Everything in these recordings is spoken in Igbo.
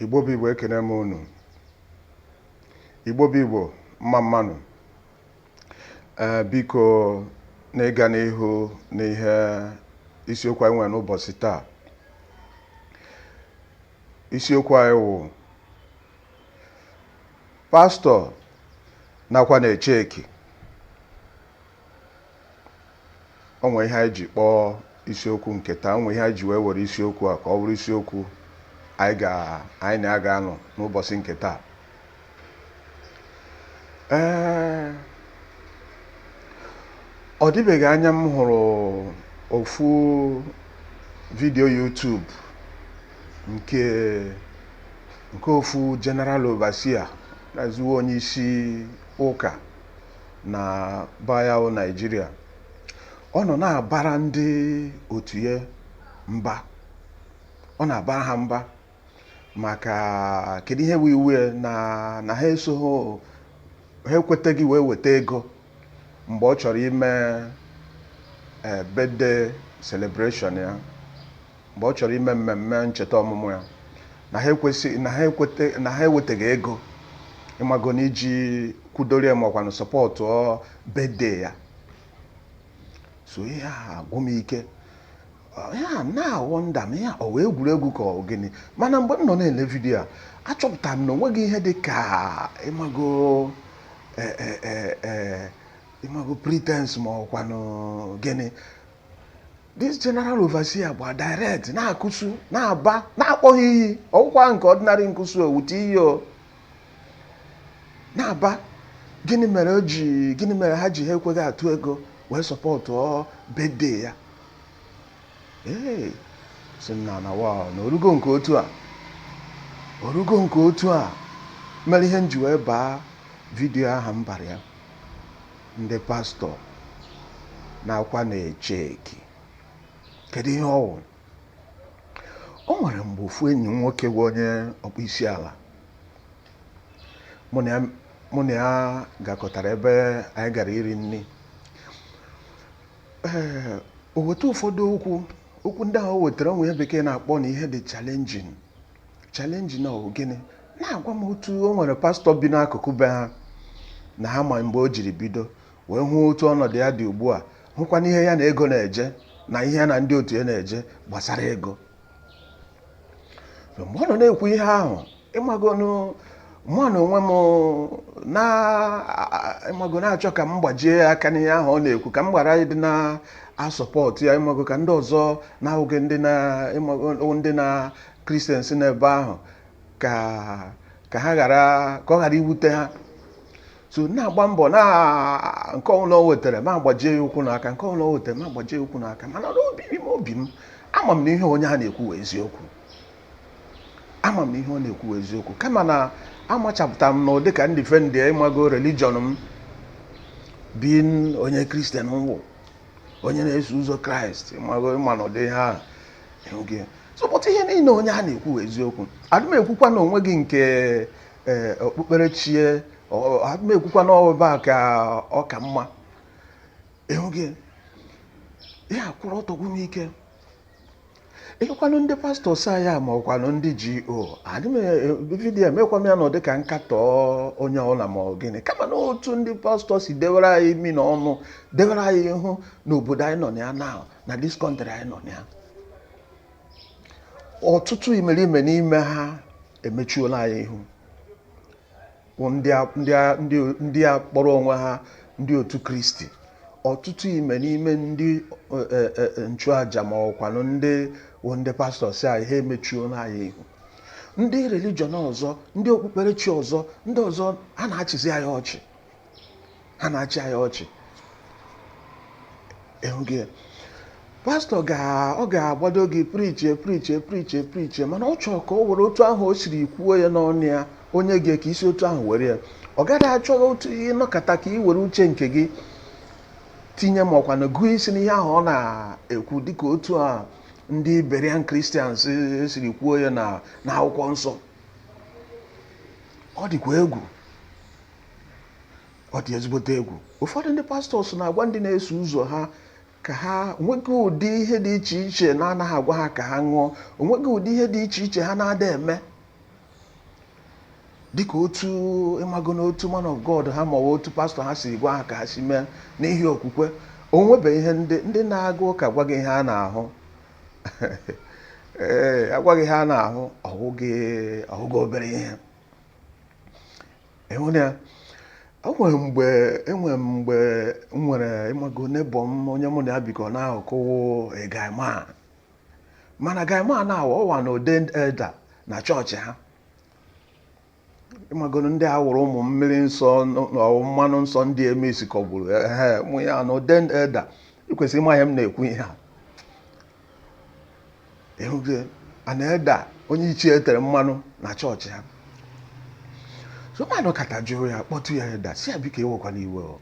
igbo bụ igbo ekene m unu igbo bụ igbo mma mma nụ ee biko n'ịga n'ihu n'ihe isiokwu anyị nwere n'ụbọchị taa isiokwu anyị wụ pastọ na-akwa na-eche eki o nwe ihe anyị ji kpọọ isiokwu nke taa o nwe ihe anyị ji wee were isiokwu a ka ọ bụrụ isiokwu anyị ga anyị na ya ga-anọ n'ụbọchị nke taa ee ọ dịbeghị anya m hụrụ ofu vidiyo YouTube nke nke ofu general overseer na-ezuwe onye isi ụka na be anyị wụ naijiria ọ nọ na-abara ndị otu ya mba ọ na-abara ha mba maka kedu ihe wụ iwe ya na na ha esoghị ha ekwetaghị wee weta ego mgbe ọ chọrọ ime eh, birthday celebration ya mgbe ọ chọrọ ime mmemme ncheta ọmụmụ ya na ha ekwesị na ha ekweta na ha ewetaghị ego ịmago na iji kwudoro ya makwanụ supportuo birthday ya so ihe a agwụ m ike ihe a na-awonder m ihe a ọ wụ egwuregwu ka ọ gịnị mana mgbe m nọ na-ele vidiyo a achọpụtara m na o nweghị ihe dị ka ịmago eh, eh, eh, eh, ịmago pretense ma ọkwanụ gịnị this general overseer gba direct na-acursu na-aba na-akpọ ha iyi ọ wụkwa nke ordinary ncursu o wute iyi o na-aba gịnị mere o ji gịnị mere ha ji ha ekweghị atụ ego wee supportuo birthday ya ee sị na na wa na o rugo nke otu a o rugo nke otu a mere ihe m ji wee baa vidiyo aha m bara ya Ndị pastọ na-akwa na-eche eki. Kedu ihe ọ wụ? O nwere mgbe ofu enyi m nwoke bụ onye ọkpọ isi ala mụ na ya- mụ na ya gakọtara ebe anyị gara iri nri ee o weta ụfọdụ okwu okwu ndị ahụ o wetara o nwe ihe bekee na-akpọ na ihe dị challenging challenge na ọ gịnị na-agwa m otu o nwere pastọ bi n'akụkụ be ha na ha ma mgbe o jiri bido wee hụ otu ọnọdụ ya dị ugbu a hụkwanụ ihe ya na ego na-eje na ihe ya na ndị otu ya na-eje gbasara ego mgbe ọ nọ na-ekwu ihe ahụ ịmagonụ mụ na onwe m ịmago na-achọ ka m gbajie aka n'ihe ahụ ọ na-ekwu ka m ghara ịdị na-asupport ya ịmago ka ndị ọzọ na-awụghị ndị na ndị na kristians n'ebe ahụ ka ka ha ghara ka ọ ghara iwute ha so na-agba mbọ na nke ọbụla o wetara mụ agbajie ya ụkwụ na aka nke ọbụla o wetara mụ agbajie ya ụkwụ na aka mana n'obi m obi m ama m na ihe onye a na-ekwu wụ eziokwu ama m na ihe ọ na-ekwu wụ eziokwu kama na amachapụtara m n'ụdị ka m defendie ịmago religion m being onye kristian m wụ onye na-eso ụzọ kraịst ịmago ịma na ụdị ihe ahụ so but ihe niile onye a na-ekwu wụ eziokwu adị m ekwukwa na o nweghị nke eh, okpukperechi adị m ekwukwa na ọba ka ọ ka mma enweghị ihe kwụrụ ọtọ gwụ m ike ịkwanụ ndị pastọs anyị a ma ọkwanụ ndị GO adị m vidiyo emekwa m ya n'ụdị ka nkatọ onye ọwụla ma ọ gịnị kama na otu ndị pastọs si dewere anyị imi na ọnụ dewere anyị ihu n'obodo anyị nọ na ya na na this country anyị nọ na ya ọtụtụ imerime n'ime ha emechuola anyị ihu ndị a kpọrọ onwe ha ndị otu kristi ọtụtụ imerime ndị e, e, e, nchụaja ma ọkwanụ ndị ndị pastọs anyị ha emechuola anyị ihu ndị religion ọzọ ndị okpukperechi ọzọ ndị ọzọ a na-achịzi anyị ọchị ha na-achị anyị ọchị ịhụghị ya pastọ ọ ga-agbado gị preachie preachie preachie preachie mana ọ chọrọ ka o were otu ahụ o siri kwuo ya n'ọnụ ya o nye gị ka i si otu ahụ were ya ọ gaghị achọ otu ịnọkọta ka ị were uche nke gị tinye ma ọkwanụ gụọ isi n'ihe ahụ ọ na-ekwu dịka otu a ndị Berean Christians siri kwuo ya na akwụkwọ nsọ ọ dịkwa egwu ọ dị ezigbote egwu ụfọdụ ndị pastọs na-agwa ndị na-eso ụzọ ha ka ha onweghị ụdị ihe dị iche iche na-anaghị agwa ha ka ha ṅụọ onweghị ụdị ihe dị iche iche ha na-ada eme dịka otu ịmago na otu man of God ha maọbụ otu pastọ ha si gwa ha ka ha si mee n'ihi okwukwe onwebe ihe ndị ndị na-aga ụka a gwa gị ihe a na-ahụ ee a gwa gị ihe a na-ahụ ọ wụghị ọ wụghị obere ihe enwere ya enwere mgbe enwere mgbe m nwere ịmago neighbour m onye mụ na ya bikọ n'akụkụ wụ guy man mana guy man a wụ ọ wụ an ordained elder na chọọchị ha ịmagonụ ndị a wụrụ ụmụ mmiri nsọ na mmanụ nsọ ndị eme isikọgburu ehe mụ ya na ordained elder ikwesịrị ịma ihe m na-ekwu ihe a ịhụgo an elder onye ichie etere mmanụ na chọọchị ha so mmadụ kata jụrụ ya kpọtụ ya elder sị ya biko ewekwana iwe o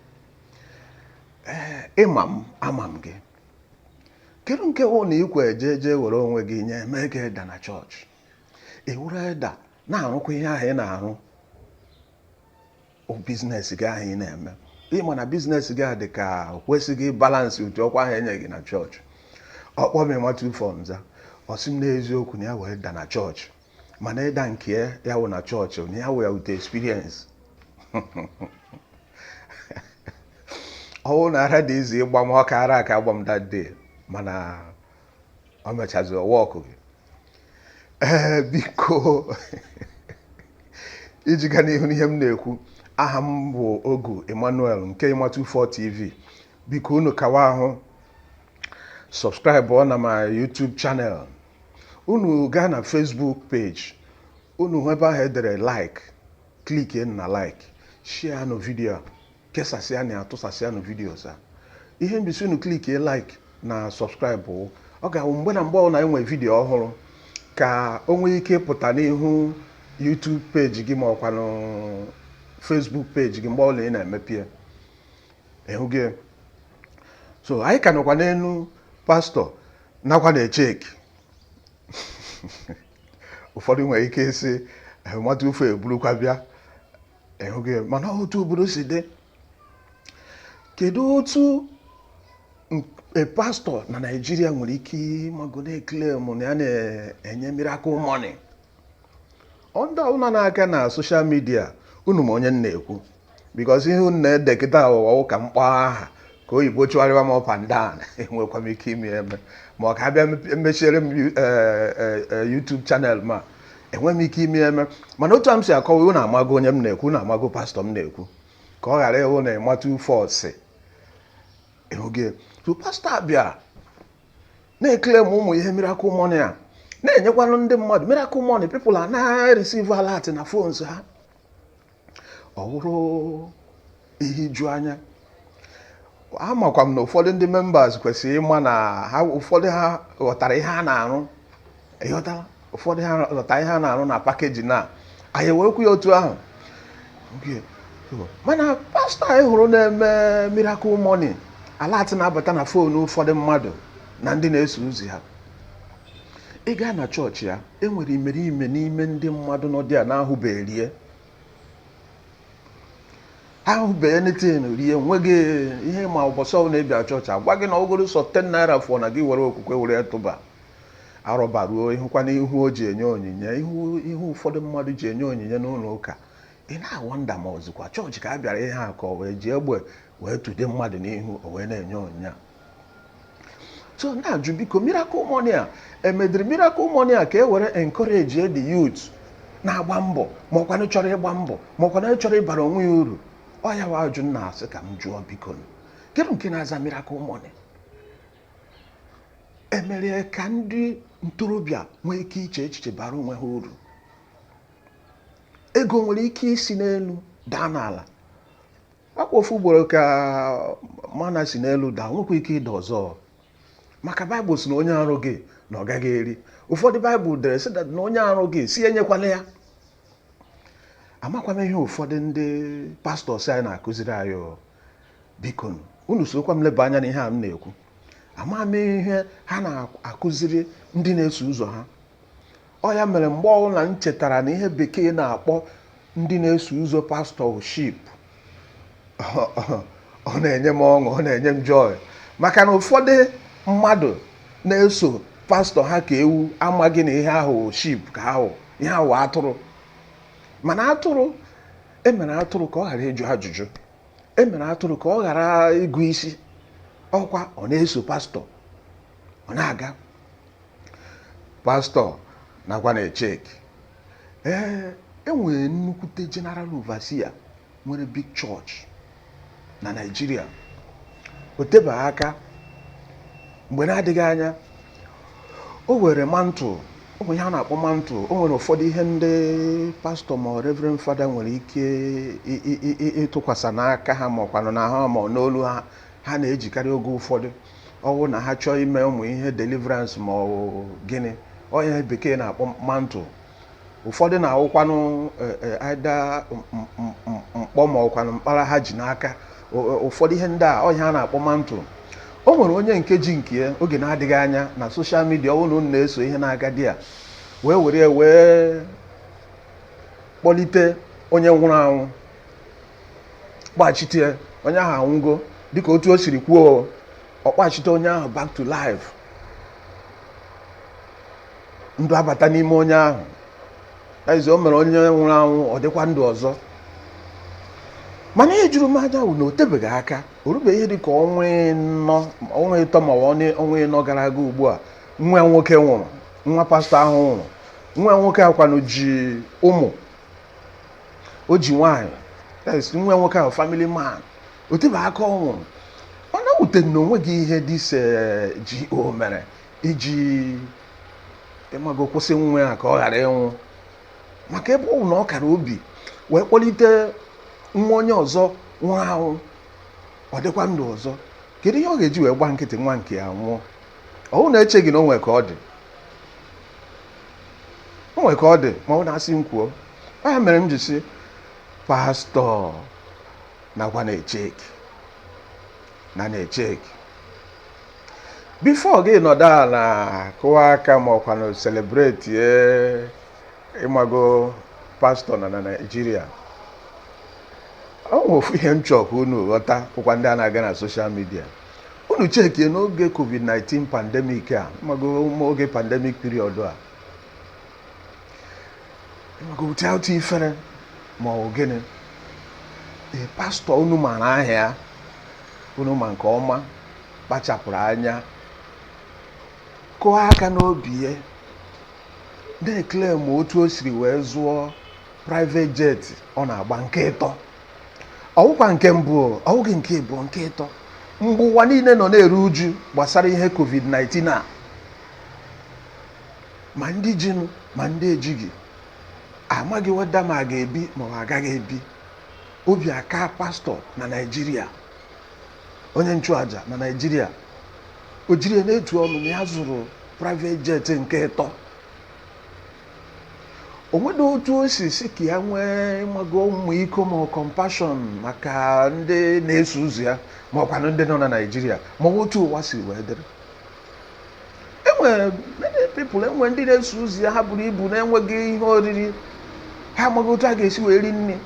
ee ịma m ama m gị kedu nke wụ na ikwe jee jee were onwe gị nye mee ka elder na chọọchị ị wụrụ elder na-arụkwa ihe ahụ ị na-arụ biznes gị ahụ ị na-eme ịma na biznes gị a dị ka kwesịghị balansị ụdị ọkwa ahụ enye gị na chọọchị ọ kpọọ m Ịmatụ 4 m za ọ sị m n'eziokwu na ya wụ elder na chọọchị mana elder nke ya wụ na chọọchị na ya wụ ya with experience ọ wụ na ara dị easy ịgba m ọka ara aka agba m that day mana ọ mechazi ọwa ọkụ gị ee biko iji ga n'ihu n'ihe m na-ekwu aha m bụ ogu emmanuel nke ịmatụ 4 tv biko unu kawahụ sọbskraịbụ na my youtube channel unu gaa na facebook page unu hụ ebe ahụ e dere like klikie na like share nụ vidio kesasịanụ tụsasịanụ vidios a ihe m ji sị unu klikie like na subscribe wụ ọ ga-awụ mgbe na mgbe ọbụla anyị nwere vidiyo ọhụrụ ka o nwee ike pụta n'ihu YouTube peji gị ma ọkwanụ Facebook peji gị mgbe ọbụla ị na-emepe ya ịhụgo so anyị ka nọkwa n'elu pastọ nakwanụ HK ụfọdụ nwere ike ịsị Ịmatụ 4 eburukwa bịa ịhụgo mana otu obodo si dị kedu otu pastọ na naijiria nwere ike ịmago na-claim na ya na-enye miracle money ndị ọbụla na-aga na soshal midia unu ma onye m na-ekwu bikọz ihe unu na-ede kịta a wụ ka m kpọọ aha ka oyibo chụgharịwa m up and down enwekwa m ike ime eme ma ọ ka abịa emechiere m eh, eh, eh, YouTube channel ma enweghị m ike ime eme mana otu a m si akọwa unu amago onye m na-ekwu unu amago pastọ m na-ekwu ka ọ ghara ịwụ na Ịmatụ 4 sị ịhụgo so pastọ a bịa na-claim ụmụ ihe miracle money a na-enyekwanụ ndị mmadụ miracle money people a na-receive alert na phones ha ọ wụrụ ihe ijuanya amakwa m na ụfọdụ ndị members kwesịrị ịma na ha ụfọdụ ha ghọtara ihe a na-arụ ịghọtara ụfọdụ ha ghọtara ihe a na-arụ na pakeji na anyị ewerekwu ya otu ahụ mana pastọ anyị hụrụ na-eme miracle money alert na-abata na foonu ụfọdụ mmadụ na ndị na-eso ụzọ ha ị gaa na chọọchị ya enwere imerime n'ime ndị mmadụ ndị a na-ahụbeghị ahụbeghị anything rie nweghị ihe ma ụbọchị ọbụla ị bịa chọọchị a gwa gị na ọ wụgodu sọ 10 naira fọọ na gị were okwukwe were tụba arọba ruo ị hụkwanụ ihu o ji enye onyinye ihu ụfọdụ mmadụ ji enye onyinye n'ụlọ ụka ị na-awonder ma ọ wụzikwa chọọchị ka a bịara ihe a ka ọ wụ e ji egbe wee tụde mmadụ n'ihu o wee na-enye onyinye a so na-ajụ biko miracle money a e mediri miracle money a ka e were encourage the youth na-agba mbọ ma ọkwanụ chọrọ ịgba mbọ ma ọkwanụ chọrọ ịbara onwe ya uru ọ ya wụ ajụjụ m na-asị ka m jụọ biko kedu nke na-aza miracle money e mere ka ndị ntorobịa nwee ike iche echiche bara onwe ha uru ego nwere ike isi n'elu daa n'ala ọkwa ofu ugboro ka manna si n'elu daa o nwekwa ike ịda ọzọ maka baịbụl sị na onye arụghị na ọ gaghị eri ụfọdụ baịbụl dere sị na onye arụghị sị enyekwala ya amakwa m ihe ụfọdụ ndị pastọs anyị na-akụziri anyị biko unu sokwa m leba anya na ihe a m na-ekwu ama m ihe ha na-akụziri ndị na-eso ụzọ ha Ọ ya mere mgbe ọbụla m chetara na ihe bekee na-akpọ ndị na-eso ụzọ pastọ sheep ọ na-enye m ọṅụ ọ na-enye m joy maka na ụfọdụ mmadụ na-eso pastọ ha ka ewu amaghị na ihe a wụ sheep ka ihe a wụ atụrụ mana atụrụ e mere atụrụ ka ọ ghara ịjụ ajụjụ e mere atụrụ ka ọ ghara ịgụ isi ọkwa ọ na-eso pastọ ọ na-aga pastọ nakwa na echek ee e nwere nnukwute general overseer nwere big church na Naịjirịa o tebeghị aka mgbe na-adịghị anya o were mantle o nwere ihe a na-akpọ mantle o nwere ụfọdụ ihe ndị pastọ ma ọ reverend fada nwere ike ị- ị- ị- ị- ịtụkwasị n'aka ha ma ọkwanụ n'ahụ ha ma ọ n'olu ha ha na-ejikarị oge ụfọdụ ọ wụ na ha chọọ ime ụmụ ihe deliverance ma ọ gịnị ọ ihe bekee na-akpọ mantle ụfọdụ na-awụkwanụ eh, eh, either mkpọ ma ọkwanụ mkpara ha ji n'aka ụfọdụ ihe ndị a ọ ihe a na-akpọ mantle o nwere onye nke ji nke ya oge na-adịghị anya na soshal midia ọ bụrụ na ị na-eso ihe na-aga there wee were ya wee kpọlite onye nwụrụ anwụ kpachite ya onye ahụ anwụgo dịka otu o siri kwuo ọ kpachite onye ahụ back to life ndụ abata n'ime onye ahụ ee o mere onye nwụrụ anwụ ọ dịkwa ndụ ọzọ mana ihe juru m anya bụ na o tebeghị aka o rubeghị ihe dịka ọnwa ọnwa ịtọ ma ọ bụ ọnwa ịnọ gara aga ugbu a nwa ya nwoke nwụrụ nwa pastọ ahụ nwụrụ nwa ya nwoke ahụ kwanụ ji ụmụ o ji nwaanyị yes, nwa nwoke ahụ family man o tebe aka ọ nwụrụ mana o wutere na o nweghị ihe dis eh, GO mere iji ịmago kwụsị nwa ya ka ọ ghara ịnwụ maka ebe ọ bụ na ọ kara obi wee kpọlite nwa onye ọzọ nwụrụ anwụ ọ dịkwa ndụ ọzọ kedu ihe ọ ga-eji wee gba nkịtị nwa nke ya nwụọ ọwụ na-echeghị na o nwere ka ọ dị o nwere ka ọ dị ma ọ wụ na a sị m kwuo ọ ya mere m ji sị pastọ nakwa na-echeki na na-echeki before gị nọdụ ala kụwa aka ma ọkwanụ celebratie ịmago pastọ nọ na naijiria ọ nwe ofu ihe m chọọ ka unu ghọta ụkwa ndị a na-aga na social media unu chekie n'oge covid-19 pandemic a ịmago oge pandemic period a ịmago without ifere ma ọ bụ gịnị ee pastọ unu mara aha ya unu ma nke ọma kpachapụrụ anya kụọ aka n'obi ya na-eclaim otu o siri wee zụọ private jet ọ na-agba nke ịtọ ọwụkwa nke mbụ ọwụghị nke ịbụọ nke ịtọ mgbe ụwa niile nọ na-eru uju gbasara ihe covid-19 a ma ndị jinụ ma ndị ejighị amaghị whether ma a ga-ebi ma ọ agaghị ebi obi akaa pastọ na naijiria onye nchụaja na naijiria o jiri ya na-etu ọnụ na ya zụrụ private jet nke ịtọ o nwere otu o si sị ka ya nwee ịmago ọmịiko ma compassion maka ndị na-eso ụzọ ya ma ọkwanụ ndị nọ na naijiria ma ọ bụ otu ụwa si wee dịrị enwere many people enwe ndị na-eso ụzọ ya ha buru ibu na-enweghị ihe oriri ha amaghị otu a ga-esi wee rie nri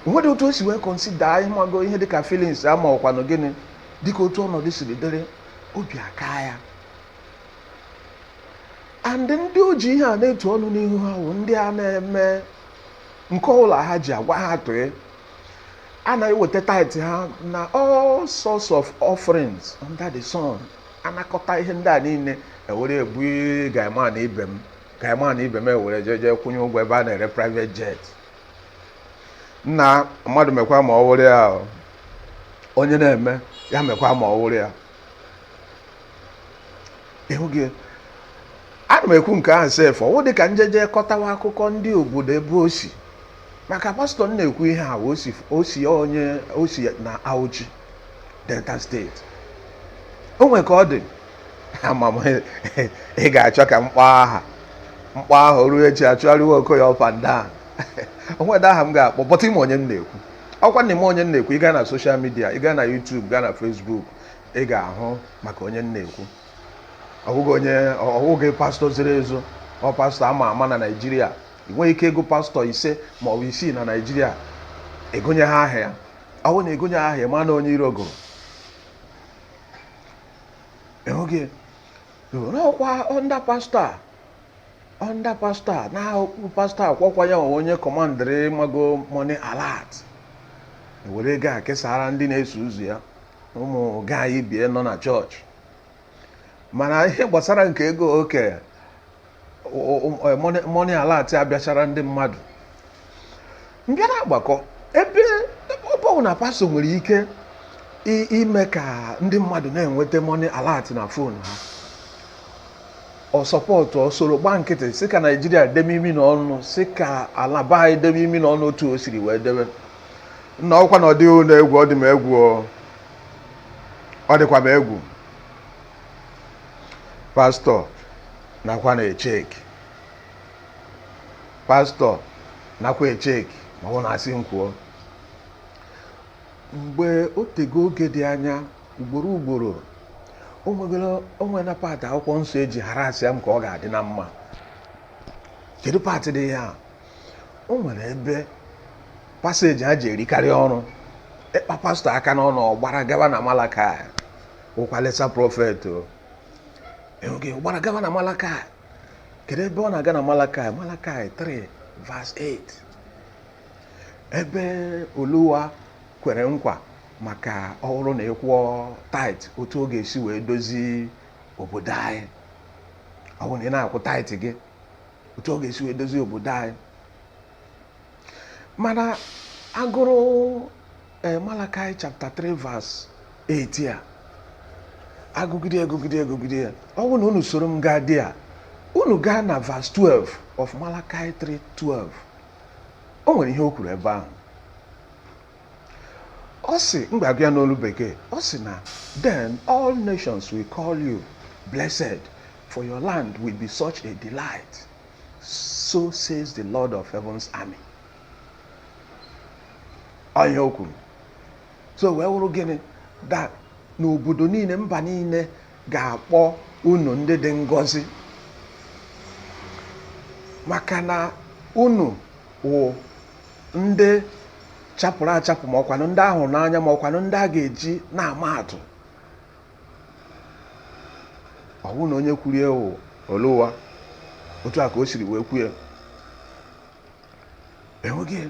o nwere otu o si wee consider ịmago ihe dịka feelings a ma ọkwanụ gịnị dịka otu ọnọdụ siri dịrị obi akaa ya and ndị o ji ihe a na-etu ọnụ n'ihu ha bụ ndị a na-eme nke ọbụla ha ji agwa ha tụe a na-eweta tithe ha na all sorts of offerings under the sun a nakọta ihe ndị a niile ewere ebu guy man ibe m guy man ibe m ewere jeje kwụnye ụgwọ ebe a na-ere private jet nna mmadụ mekwa ma ọ wụrụ ya onye na-eme ya mekwa ma ọ wụrụ ya ịhụ gị ana m ekwu nke ahụ sef ọwụ dị ka njeje kọtawa akụkọ ndị obodo ebe o si maka pastọ m na-ekwu ihe a o si o si onye o si na Auchi Delta steeti o nwere ka ọ dị ama m ị ga-achọ ka m kpọọ aha m kpọọ aha o ruo echi achụgharịwa okoye up and down o nwedị aha m ga-akpọ but ị ma onye m na-ekwu ọkwa na ị ma onye m na-ekwu ị gaa na soshal midia ị gaa na YouTube gaa na Facebook ị ga-ahụ maka onye m na-ekwu ọ wụghị pastọ ziri ezo ọ pastọ ama ama na Naịjirịa ị nweghị ike ịgụ pastọ ise ma ọ bụ isii na Naịjirịa ị gụnyeghị aha ya ọwụ na agụnyeghị aha ya ma na onye iro gụrụ enweghị ọkwa ndị pastọ a under pastor a na-akpọ pastor akwakwa ya onye kọmandịrị miracle money alert were ego a kesaara ndị na-eso ụzọ ya ụmụ gaanyị bie nọ na chọọchị mana ihe gbasara nke ego oke money alert abịachara ndị mmadụ m bịa na-agbakọ ebe ebe ọ bụrụ na pastọ nwere ike i- ime ka ndị mmadụ na-enweta money alert na fon ha ọ sọpọtụ o soro gba nkịtị sị ka naijiria debe imi na ọnụ sị ka ala be anyị debe imi na ọnụ otu o siri wee debe nna ọkwa na ọ dịghị unu egwu ọ dị m egwu o. ọ dịkwa m egwu pastọ nakwa na-echeki pastọ nakwa echeki ma ọ na-asị m kwuo mgbe o tego oge dị anya ugboro ugboro o nwegoro o nwere na paatị akwụkwọ nsọ eji harassịa m ka ọ ga-adị na mma kedu paatị dị ya o nwere ebe paseji ha ji erikarị ọrụ ị kpa pastọ aka n'ọnụ ọ gbara gaba na malakai wụkwa lesser prọfet o ọ gbara gaba na malakai kedu ebe ọ na-aga na malakai malakai 3 verse 8 ebe oluwa kwere nkwa maka ọ bụrụ na ị kwụọ tait otu ọ ga-esi wee dozi obodo anyị ọ bụrụ na ị na-akwụ tait gị otu ọ ga-esi wee dozi obodo anyị mana agụrụ eh, Malakai chapter 3 verse 8 ya agụgide agụgide agụgide ya ọ bụrụ na unu soro m gaa dị a unu gaa na verse 12 of Malakai 3:12 o nwere ihe o kwuru ebe ahụ ọ sị m ga-agụ ya n'olu bekee ọ sị na then all nations will call you blessed for your land will be such a delight so says the lord of heaven's army ọ ihe o kwuru so wee wụrụ gịnị that na obodo niile mba niile ga-akpọ unu ndị dị ngọzi maka na unu wụ ndị chapụrụ achapụ ma ọkwanụ ndị a hụrụ n'anya ma ọkwanụ ndị a ga-eji na-ama atụ ọ bụrụ na onye kwuru ya wụ Oluwa otu a ka o siri wee kwue enweghị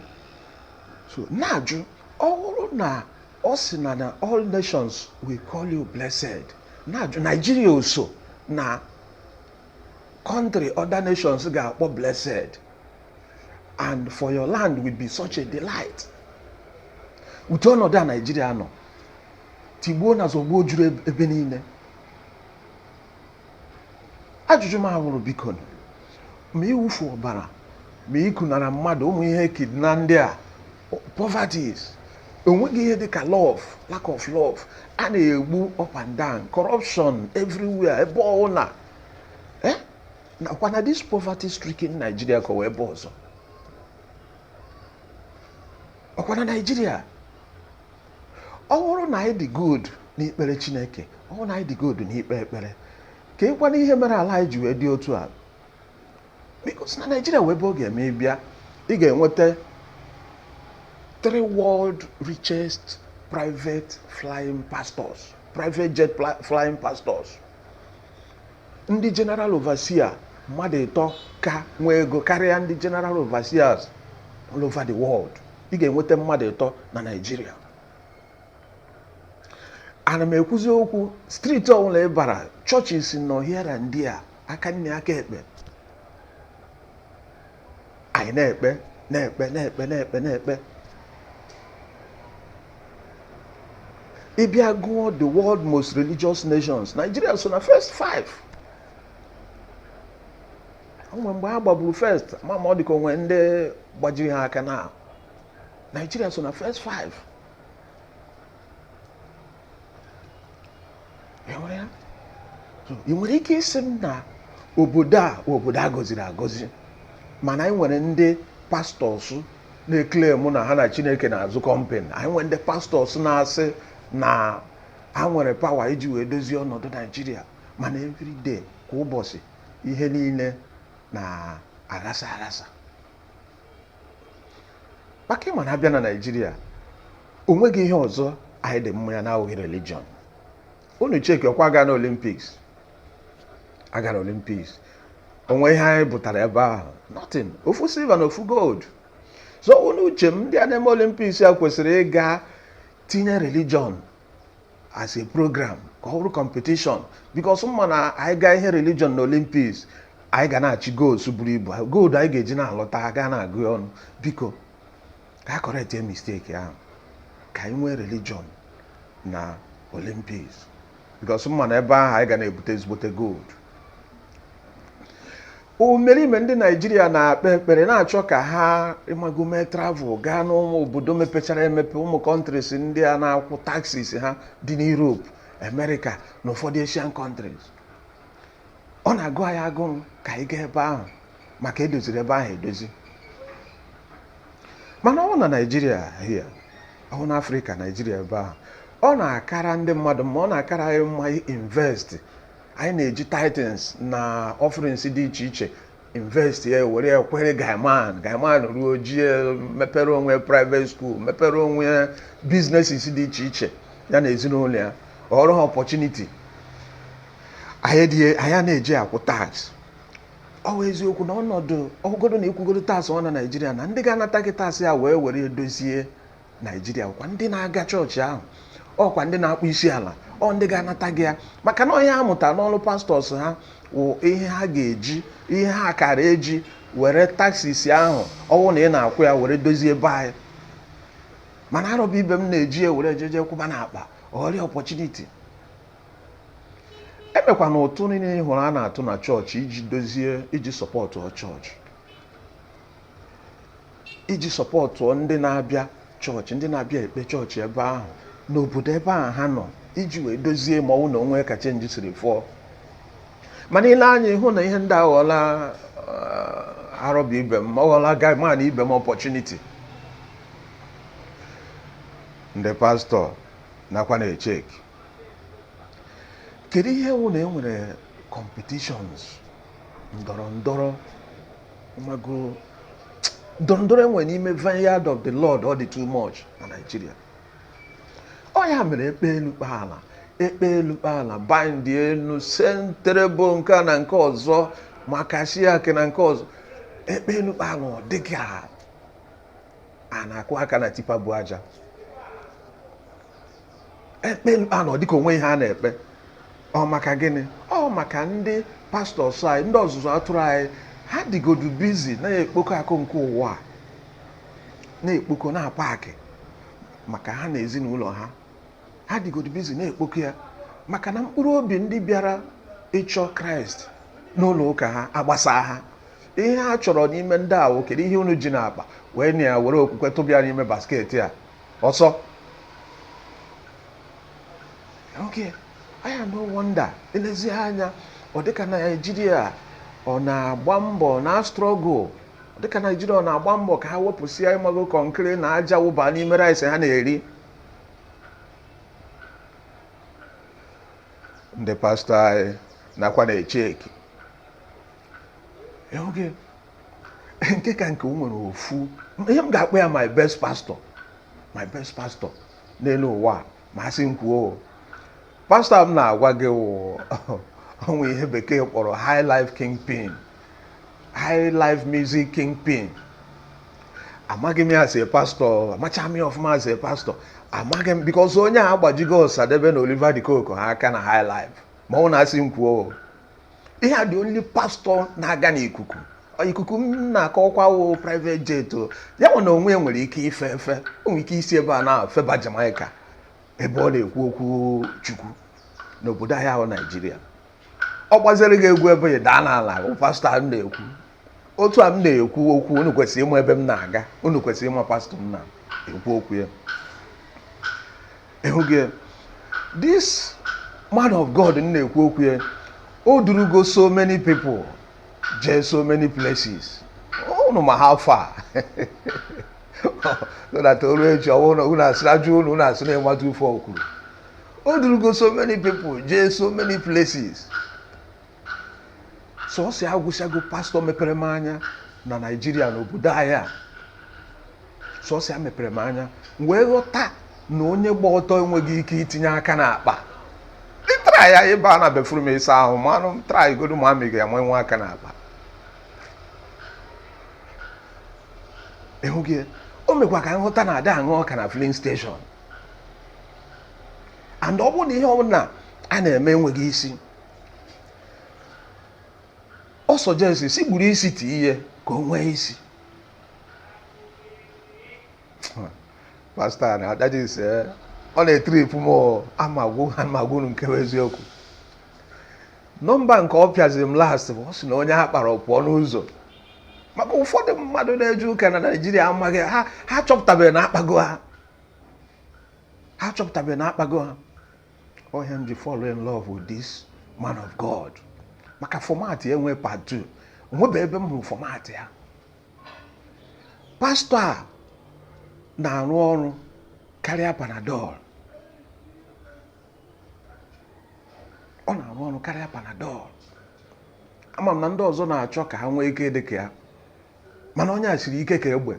so na-ajụ ọ bụrụ na ọ sị na na all nations will call you blessed na-ajụ Nigeria o so na country other nations ga-akpọ blessed and for your land will be such a delight ụdị ọnọdụ a Nigeria nọ tigbuo na zọgbuo juru ebe niile ajụjụ m a wụrụ biko ma ịwụfu ọbara ma ịkụnara mmadụ ụmụ ihe kidnap ndị a poverties o nweghị ihe dịka love lack of love a na-egbu up and down corruption everywhere ebe ọ wụla eh? ọkwa na this poverty stricken Nigeria ka ọ wụ ebe ọzọ ọkwa na Nigeria ọ bụrụ na anyị dị good n'ikpere chineke ọ bụrụ na anyị dị good n'ikpe ekpere keekwanụ ihe mere ala anyị ji wee dị otu a because na naijiria wụ ebe ọ ga-eme ị bịa ị ga-enweta three world richest private flying pastors private jet pla- flying pastors ndị general overseer mmadụ ịtọ ka nwee ego karịa ndị general overseers all over the world ị ga-enweta mmadụ ịtọ na naijiria ana m ekwuzi okwu street ọ bụla ị bara churches nọ here and there aka nne aka ekpe anyị na-ekpe na-ekpe na-ekpe na-ekpe na-ekpe ị bịa gụọ the world most religious nations nigeria so na first five o nwe mgbe ha gbaburu first ma ma ọ dịka o nwere ndị gbajiri ha aka na Nigeria so na first five ị nwere ike ịsị m na obodo a obodo a gọziri agọzi mana anyị nwere ndị pastors na-eclaim na ha na chineke na-azụ kọmpen anyị nwere ndị pastors na-asị na ha nwere power iji wee dozie ọnọdụ naijiria mana everyday kwa ụbọchị ihe niile na-aghasa aghasa maka ịma na abịa na naijiria o nweghị ihe ọzọ anyị dị mma ya na-awụghị religion unu cheki ọkwa aga na olimpiks aga na olimpiks onwe ihe anyị butara ebe ahụ nothing ofu silva na ofu gold so ọ wụ n'uche m ndị a na-eme olimpiks ya kwesịrị ịga tinye religion as a program ka ọ bụrụ competition because m ma na anyị gaa ihe religion na Olympics anyị ga na-achị golds buru ibu gold anyị ga-eji na-alọta a ga na-agụ ya ọnụ biko ka a correctie mistake ahụ ka anyị nwee religion na Olympics because m ma na ebe ahụ anyị ga na-ebute ezigbote gold imerime ndị naijiria na-akpe ekpere na-achọ ka ha ịmago mee travel gaa n'ụmụ obodo mepechara emepe ụmụ kọntris ndị a na-akwụ taxes ha dị n'Europe America na ụfọdụ Asian countries ọ na-agụ anyị agụrụ ka anyị gaa ebe ahụ maka edoziri ebe ahụ edozi mana ọ wụ na naijiria hia ọ wụ na afrịka naijiria ebe ahụ ọ na-akara ndị mmadụ mma ọ na-akara anyị mma invest anyị na-eji tithes na offerings dị iche iche invest ya were ya kwụọrọ gaiman gaiman ruo o jie mepere onwe private school mepere onwe businesses dị iche iche ya na ezinụlọ ya ọrụ ha opportunity anyị na-eji akwụ tax ọ wụ eziokwu na ọnọdụ ọ wụgodu na ị kwụgodu tax ahụ na naijiria na ndị ga-anata gị tax ya wee were ya dozie naijiria ọkwa ndị na-aga chọọchị ahụ ọkwa ndị na-akpọ isi ala ọ ndị ga-anata gị ya maka na ihe ha mụta n'ọrụ pastọs ha wụ ihe ha ga-eji ihe ha kara eji were taksis ahụ ọwụ na ị na-akwụ ya were dozie ebe anyị mana arọba ibe m na-eji ya were ejeje kwụba na akpa ọrụ ya ọpọchuniti ebekwanụ ụtụ niile ị hụrụ a na-atụ na chọọchị iji dozie iji sọpọtụ chọọchị iji sọpọtụọ ndị na-abịa chọọchị ndị na-abịa ekpe chọọchị ebe ahụ n'obodo ebe ahụ ha nọ iji wee dozie ma ọ wụ na o nwe ka chenji siri fụọ mana i lee anya ị hụ na ihe ndị a aghọọla uh, arọba ibe m ọghọla gaiman ibe m ọpọchuniti ndị pastọ nakwa na-echeki kedu ihe wụ na e nwere competitions ndọrọ ndọrọ mago ndọrọ ndọrọ e nwe n'ime vineyard of the lord ọ dị too much na Naịjirịa ọ ya mere e kpe elu kpee ala e kpe elu kpee ala baịndịe elu sentrebo nke a na nke ọzọ makashiake na nke ọzọ e kpe elu kpee ala ọ dị ka a na-akụ aka na tipa bu aja ekpe mkpa na ọ dịka o nwe ihe a na-ekpe ọ maka gịnị ọ maka ndị pastọs anyị ndị ọzụzụ atụrụ anyị ha dịgodu busy na-ekpokọ akụ nke ụwa na-ekpokọ na-apaakị maka ha na ezinụlọ ha ha dịgodu busy na-ekpokọ ya maka na mkpụrụ obi ndị bịara ịchọ kraịst n'ụlọ ụka ha agbasa ha ihe ha chọrọ n'ime ndị a wụ kedu ihe unu ji n'akpa wee na ya were okwukwe tụbịa n'ime basket a ọsọ oke anya no wonder elezi anya ọ dịka naijiria ọ na-agba mbọ na struggle dịka naijiria ọ na-agba mbọ ka ha wepụsịa ịmago kọnkịrị na aja wụba n'ime rice ha na-eri ndị pastọ anyị nakwa na-echeki oge nke ka nke o nwere ofu ihe m ga-akpọ ya my best pastor my best pastor n'elu ụwa ma a sị m kwuo pastọ m na-agwa gị wụ o nwe ihe bekee kpọrọ high life kingpin high life music kingpin amaghị m ya as a pastor amacha m ya ọfụma as a pastor amaghị m because onye a agbajigo Osadebe na Oliver de Coque ha aka na high life ma ọ wụ na a sị m kwuo ihe a the only pastor na-aga n'ikuku ikuku m na-akọkwa wụ private jet ya wụ na onwe nwere ike ife efe o nwere ike isi ebe a na-afeba Jamaica ebe ọ na-ekwu okwu Chukwu n'obodo anyị a wụ Naijiria ọ gbaziri gị egwu ebe ị daa n'ala pastọ m na-ekwu otu a m na-ekwu okwu unu kwesịrị ịma ebe m na-aga unu kwesịrị ịma pastọ m na-ekwu okwu ya ịhụghị this man of God m na-ekwu okwu ya o durugo so many people jee so many places unu ma how far so that o ru echi ọ wụ na unu asịrị ajụ unu unu asịrị ịmata ife o kwuru o durugo so many people jee so many places sọsọ ya agwụsịago pastọ mepere m anya na naijiria na obodo anyị a sọsọ ya mepere m anya m wee ghọta na onye gba ọtọ enweghị ike itinye aka n'akpa ị try ya ị baa na bathroom ịsa ahụ manụ try godu ma ma ị ga-amanye aka n'akpa ịhụ gị o mekwa ka m ghọta na ada ahụ ọka na filling station and ọ bụrụ na ihe ọbụla a na-eme enweghị isi ọ suggest sị buru isi tinye ka o nwee isi pastọ na that is eh, ọ na-etripụ m aga m agwa unu nke bụ eziokwu nọmba nke ọ pịaziri m last bụ ọ sị na onye a kpara ọ pụọ n'ụzọ maka ụfọdụ mmadụ na-eje ụka na naijiria amaghị ha ha chọpụtabeghị na akpago ha ha chọpụtabeghị na akpago ha ọ ihe m ji fall in love with this man of God maka format ya enwe part 2 o nwebe ebe m hụrụ format ya pastọ a na-arụ ọrụ karịa panadol ọ na-arụ ọrụ karịa panadol ama m na ndị ọzọ na-achọ ka ha nwee ike dị ka ya mana onye a siri ike ka egbe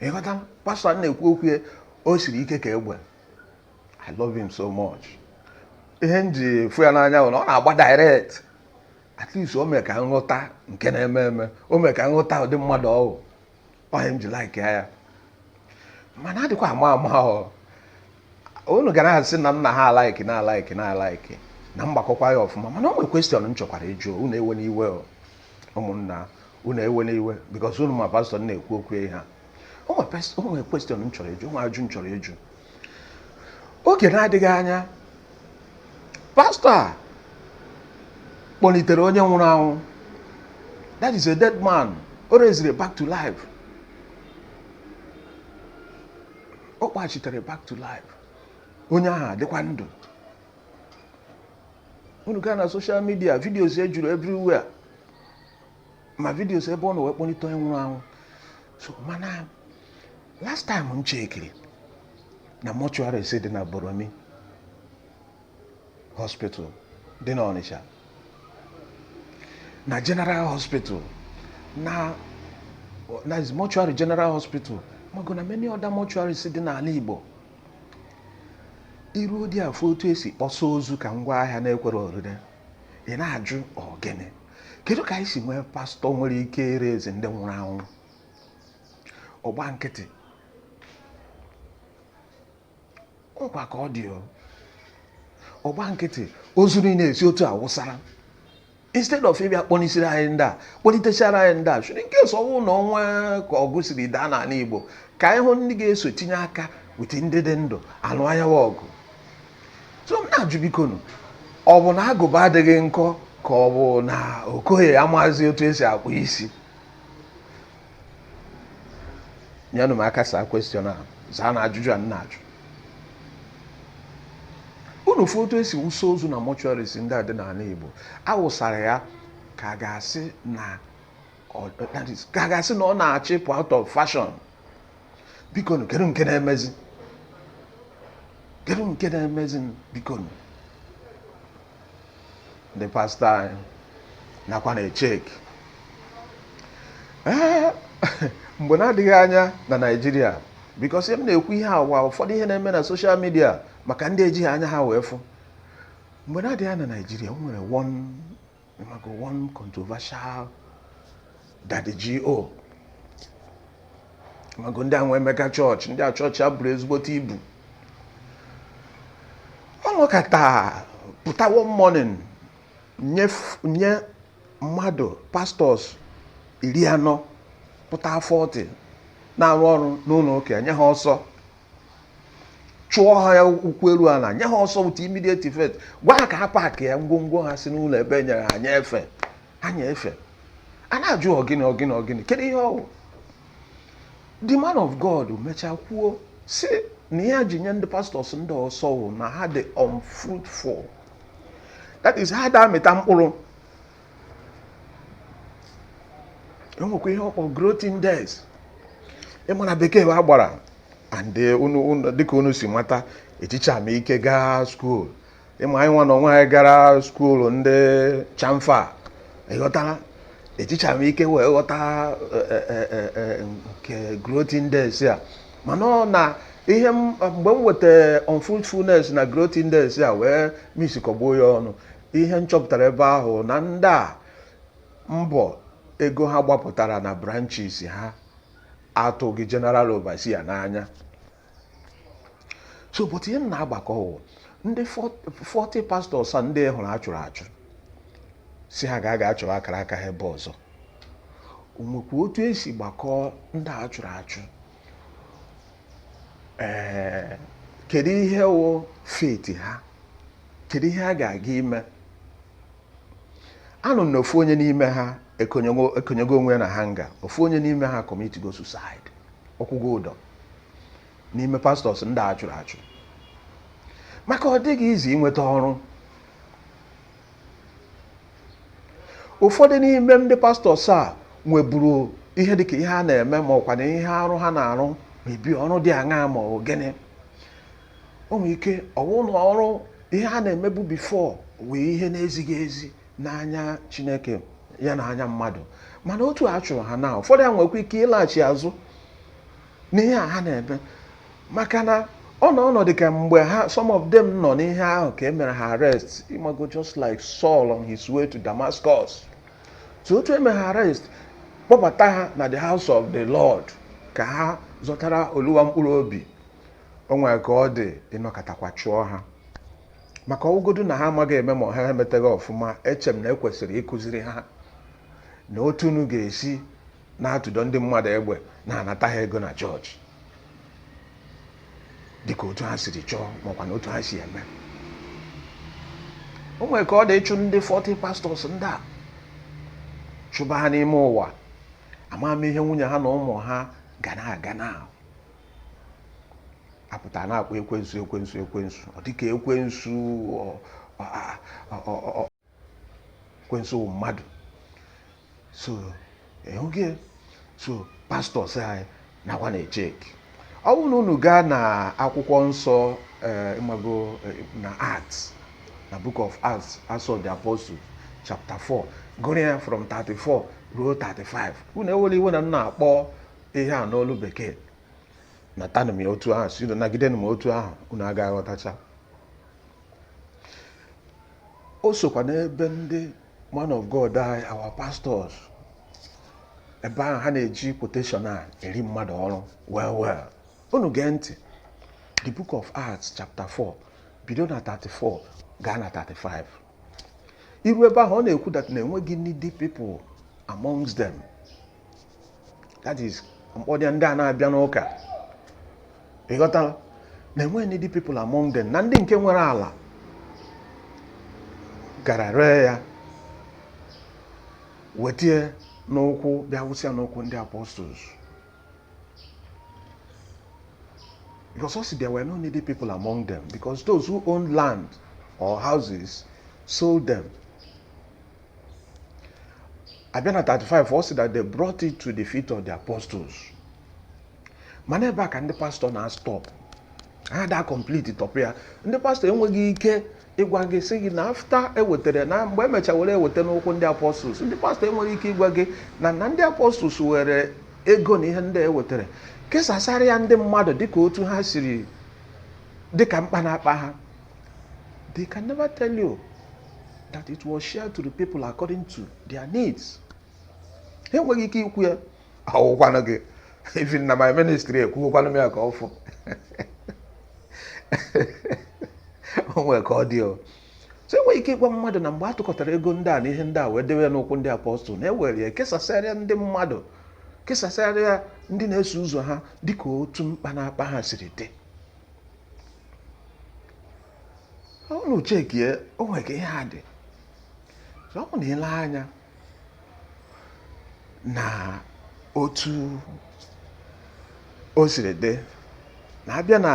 ị ghọta pastọ na-ekwu okwu ya o siri ike ka egbe i love him so much ihe m ji fụ ya n'anya bụ na ọ na-agba direct at least o mee ka m ghọta nke na-eme eme o mee ka m ghọta ụdị mmadụ ọ bụ ọ ihe m ji like ya mana adịkwa ama ama o unu ga na-asị na nna ha alaiki na alaiki na alaiki na mgbakọkwa ya ọfụma mana o nwere question m chọkwara ịjụ unu ewena iwe ụmụnna unu ewena iwe because unu ma pastọ na-ekwu okwu ya o nwere question m chọrọ ịjụ o nwere ajụ m chọrọ ịjụ oge na-adịghị anya pastọ a kpọnitere onye nwụrụ anwụ that is a dead man o reziri back to life ọ kpọghachitere back to life onye ahụ adịkwa ndụ unu gaa na social media videos ya juru everywhere ma videos ebe ọ nọ wee kpọnite onye nwụrụ anwụ so mana last time m chekiri na mortuaries dị na boromi hospital dị n'Ọnịcha na general hospital na na mortuary general hospital Amaku na many other mortuaries dị n'ala Igbo i ruodi afụ otu e si kpọsa ozu ka ngwa ahịa na-ekwero orire ị na-ajụ ọ gịnị kedu ka anyị si nwee pastọ nwere ike irezi ndị nwụrụ anwụ ọ gba nkịtị ọ kwa ka ọ dị ọ gba nkịtị ozu niile esi otu a wụsara instead of ịbịa kpọnisiri anyị ndị a kpọnitechara anyị ndị a so that in case ọ bụ na o nwee ka ọgụ siri daa n'ala Igbo ka anyị hụ ndị ga-eso tinye aka with ndị dị ndụ alụ ya wụ ọgụ so m na-ajụ bikonu ọ bụ na agụba adịghị nkọ ka ọ bụ na okoye amazi otu esi akpụ isi nyenụ m aka saa question a zaa na ajụjụ a m na-ajụ unu fụ otu e si wụsa ozu na mortuaries ndị a dị n'ala Igbo a wụsara ya ka a ga-asị na ka a ga-asị na ọ na-achọ ịpụ out of fashion bikonụ kedu nke na-emezi kedu nke na-emezi bikonụ ndị pastor anyị nakwa na-echeki mgbe na-adịghị anya na Naịjirịa because m na-ekwu ihe awa ụfọdụ ihe na-eme na social media maka ndị ejighị anya ha wee fụ mgbe na-adịghị anya na Naịjirịa o nwere one controversial Daddy G.O. mago ndị a nwee mega chọọchị ndị a chọọchị ha buru ezigbote ibu ọ nọkata pụta one morning nye f- nye mmadụ pastors iri anọ pụta 40 na-arụ ọrụ n'ụlọ ụka ya nye ha ọsọ chụọ ha ya ụkwụ eru ala nye ha ọsọ with immediate effect gwa ha ka ha paakịa ngwongwo ha si n'ụlọ ebe e nyere ha anya efe anya efe a na-ajụ ọ gịnị ọ gịnị ọ gịnị kedu ihe ọ wụ the man of God mechaa kwuo sị na ihe ya ji nye ndị pastors ndị ọsọ wụ na ha dị unfruitful that is ha da amịta mkpụrụ e nwekwa ihe ọ kpọ growth index ị ma na bekee a gbara and eh, unu unu- dịka unu si mata ejichaghị m ike gaa school ị ma anyị nwa na onwe anyị gara school ndị chamfa ị ghọtara ejichaghị m ike wee ghọta eh, eh, eh, eh, nke growth index a mana ọ na ihe m- mgbe m weta unfruitfulness na growth index a wee miksikọgbuo ya ọnụ ihe m chọpụtara ebe ahụ na ndị a mbọ ego ha gbapụtara na branches ha atụghị general overseer n'anya so but ihe m na-agbakọ wụ ndị 40 pastors a ndị hụrụ a chụrụ achụ sị ha ga-aga achọrọ akara aka ha ebe ọzọ o nwekwa otu e si gbakọọ ndị a chụrụ achụ ee kedu ihe wụ fate ha kedu ihe ha ga-aga ime anụ m na ofu onye n'ime ha ekonyego onwe ya na hanger ofu onye n'ime ha commitigo suicide ọ kwụgo ụdọ n'ime pastors ndị a chụrụ achụ maka ọ dịghị easy inweta ọrụ ụfọdụ n'ime ndị pastors a nweburu ihe dịka ihe a na-eme ma ọkwa na ihe arụ ha na-arụ mebi ọrụ dị aṅaa ma ọ gịnị o nwere ike ọwụ na ọrụ ihe ha na-emebu before wụ ihe na-ezighị ezi n'anya chineke ya na anya mmadụ mana otu a chụrụ ha na ụfọdụ ha nwekwa ike ịlaghachi azụ n'ihe a ha na-eme maka na ọ nọ ọnọdụ ka mgbe ha some of them nọ n'ihe ahụ ka e mere ha arrest ịmago just like Saul on his way to Damascus so otu e mere ha arrest kpọbata ha na the house of the Lord ka ha zọtara oluwa mkpụrụ obi o nwere ka ọ dị ị nọkatakwa chụọ ha maka ọ wụgodu na ha amaghị eme ma ha emetaghị ọfụma eche m na e kwesịrị ịkụziri ha na otu unu ga-esi na-atụdo ndị mmadụ egbe na-anata ha ego na church dịka otu ha siri chọọ makwa na otu ha si eme o nwere ka ọ dị ịchụ ndị 40 pastors ndị a chụba ha n'ime ụwa ama m ihe nwunye ha na ụmụ ha ga na-aga na-apụta na-akpọ ekwensu ekwensu ekwensu ọ dịka ekwensu ekwensu wụ mmadụ so ịhụghị ya? so pastors anyị nakwa na-echeki ọ bụrụ na unu gaa na akwụkwọ nsọ eh, ịmago eh, na Acts na book of Acts Acts of the Apostle chapter 4 gụrụ ya from 34 ruo 35 unu ewela iwe na m na-akpọ ihe a n'olu bekee natanụ m ya otu ahụ si unu nagidenụ m otu ahụ unu agaghị aghọtacha o sokwa n'ebe ndị man of God anyị our pastors ebe ahụ ha na-eji quotation a eri mmadụ ọrụ well well unu gee ntị the book of Acts chapter 4 bido na 34 gaa na 35 i ru ebe ahụ ọ na-ekwu that na e nweghị needy people amongst them that is m kpọdị ya ndị a na-abịa n'ụka ịghọtala na e nweghị needy people among them na ndị nke nwere ala gara ree ya wetie n'ụkwụ bịa wụsịa n'ụkwụ ndị apostles because ọ sị there were no needy people among them because those who owned land or houses sold them a bịa na 35 ọ sị that they brought it to the feet of the apostles mana ebe a ka ndị pastor na-astop ha ada complete tọpụ ya ndị pastor enweghị ike ịgwa gị sị gị na after e wetere na mgbe e mecha were ewete n'ụkwụ ndị apostles ndị pastor enweghị ike ịgwa gị na na ndị apostles were ego na ihe ndị e wetere kesasara ya ndị mmadụ dịka otu ha siri dịka mkpa na-akpa ha They can never tell you that it was shared to the people according to their needs. ha enweghị ike ikwu ya ọ wụkwanụ gị even na my ministry ekwuokwanụ m ya ka ọ fụ o nwere ka ọ dị o so enweghị ike ịgwa mmadụ na mgbe a tụkọtara ego ndị a na ihe ndị a wee dewe n'ụkwụ ndị apọstụl na ewere ya kesasịarịa ndị mmadụ kesasịarịa ndị na-eso ụzọ ha dịka otu mkpa na-akpa ha siri dị unu chekie o nwere ka ihe a dị so ọ bụ na ile anya na otu o siri dị na abịa na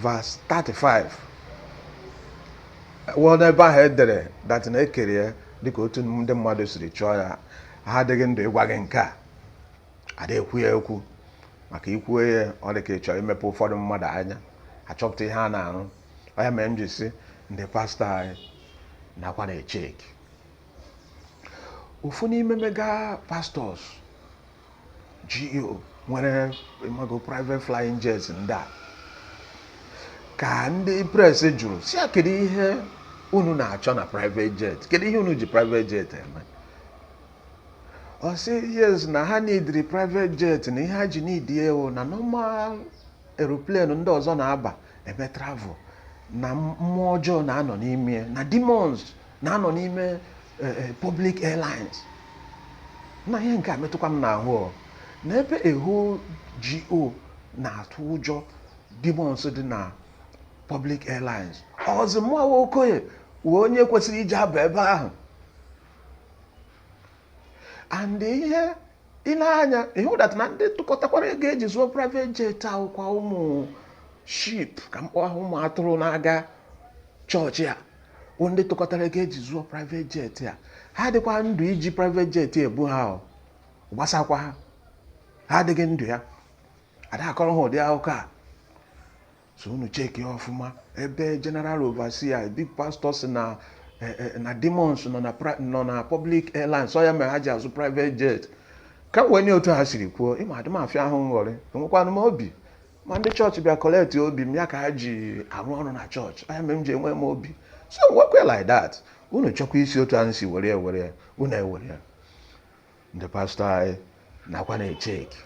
verse 35 wụọ n'ebe ahụ e dere dat na ekere ya dịka otu ndị mmadụ siri chọọ ya ha adịghị ndụ ịgwa gị nke a ada ekwu ya ekwu maka ikwu ya ọ dị ka ị chọ imepe ụfọdụ mmadụ anya achọpụta ihe a na-arụ ọ ya mere m ji si ndị pastọ anyị nakwa na-echeki ofu n'ime mega pastors GO nwere ị mago private flying jets ndị a ka ndị press jụrụ sị ya kedu ihe unu na-achọ na private jet kedu ihe unu ji private jet eme ọ sị yes na ha nidiri private jet na ihe ha ji nidi ya wụ na normal aeroplane ndị ọzọ na-aba eme travel na mmụọ ọjọọ na-anọ n'ime ya, na demons na-anọ n'ime eh, eh, public airlines na ihe nke a metụkwa m n'ahụ ọ. na ebe a whole GO na-atụ ụjọ demons dị na public airlines ọ zi mụa wụ Okoye wụ onye kwesịrị ije aba ebe ahụ and ihe ile anya ịhụ dat na ndị tụkọtakwara ego eji zụọ private jet a wụkwa ụmụ sheep ka m kpọọ ha ụmụ atụrụ na-aga chọọchị a bụ ndị tụkọtara ego eji zụọ private jet a ha dịkwa ndụ iji private jet ebu ha ọ gbasakwa ha ha adịghị ndụ ya ada akọrọ ha ụdị akụkọ a so unu cheki ọfụma ebe general overseer big pastor sị na eh, eh, na demons nọ na pri- nọ na public airlines ọ ya mere ha ji azụ private jet ka m kwenye otu ha siri kwuo ị ma adị m afịa ahụ nghọrị enwekwanụ m obi ma ndị chọọchị bịa kọleti obi m ya ka ha ji arụ ọrụ na chọọchị ọ ya mere m ji enwe m obi so m wee kwe like that unu chọkwa isi otu ahụ si were ya were ya unu ewere ya ndị pastọ anyị nakwa na-echeki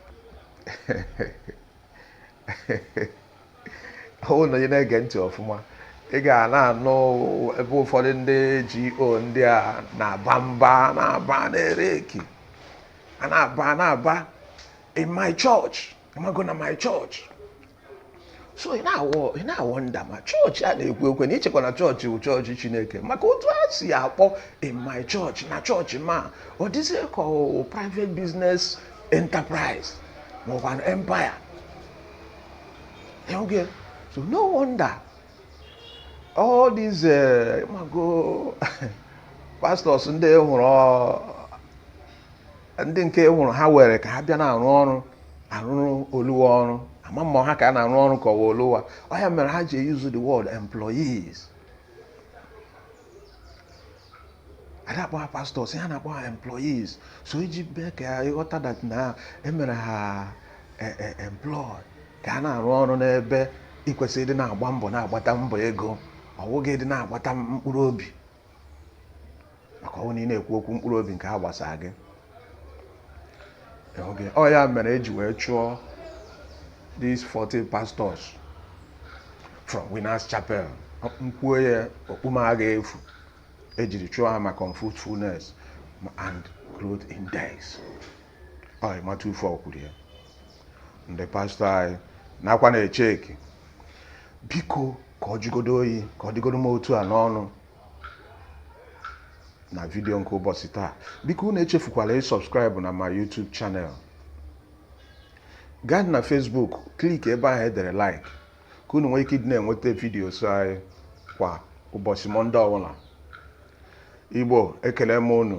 ọ wụ na onye na-ege ntị ọfụma ị ga na-anụ ebe ụfọdụ ndị GO ndị a na-aba mba na-aba na-ereki a na-aba na-aba in my church ịmago na my church so ị na-awọnda ma chọọchị a na-ekwu ekwe na ichekwa na chọọchị wụ chọọchị chineke maka otu a si akpọ in my church na chọọchị ma ọ dịzie ka private business enterprise ma ọkwanụ empire okay so no wonder all these eh, ịmago pastors ndị hụrụ ndị nke wụrụ ha were ka ha bịa na-arụ ọrụ arụrụ oluwa ọrụ ama mma ha ka a na-arụ ọrụ ka ọwa oluwa ọ ya mere ha ji use the word employees ada akpọ ha pastors ha na-akpọ ha employees so iji mee ka ịghọta that na emere ha e, e, employ ka a na-arụ ọrụ n'ebe ikwesịrị ịdị na-agba mbọ na-agbata mbọ ego ọ wụghị ịdị na-agbata mkpụrụ obi maka ọwụ na ị na-ekwu okwu mkpụrụ obi nke a gbasara gị okay ọ ya mere eji wee chụọ these 40 pastors from Winners Chapel m kwuo ya okpu m aga efu ejiri chụọ ha maka unfruitfulness and growth index ọ ịmata ufe ọkwuru ya ndị pastọ anyị nakwa na-echeki biko ka ọ jụgodo oyi ka ọ dịgodo m otu a n'ọnụ na vidiyo nke ụbọchị taa biko unu echefukwala ịsubscribe na my YouTube channel gaa na Facebook click ebe ahụ edere like ka unu nwee ike ịdị na-enweta vidiyos anyị kwa ụbọchị mọnde ọbụla igbo ekele m unu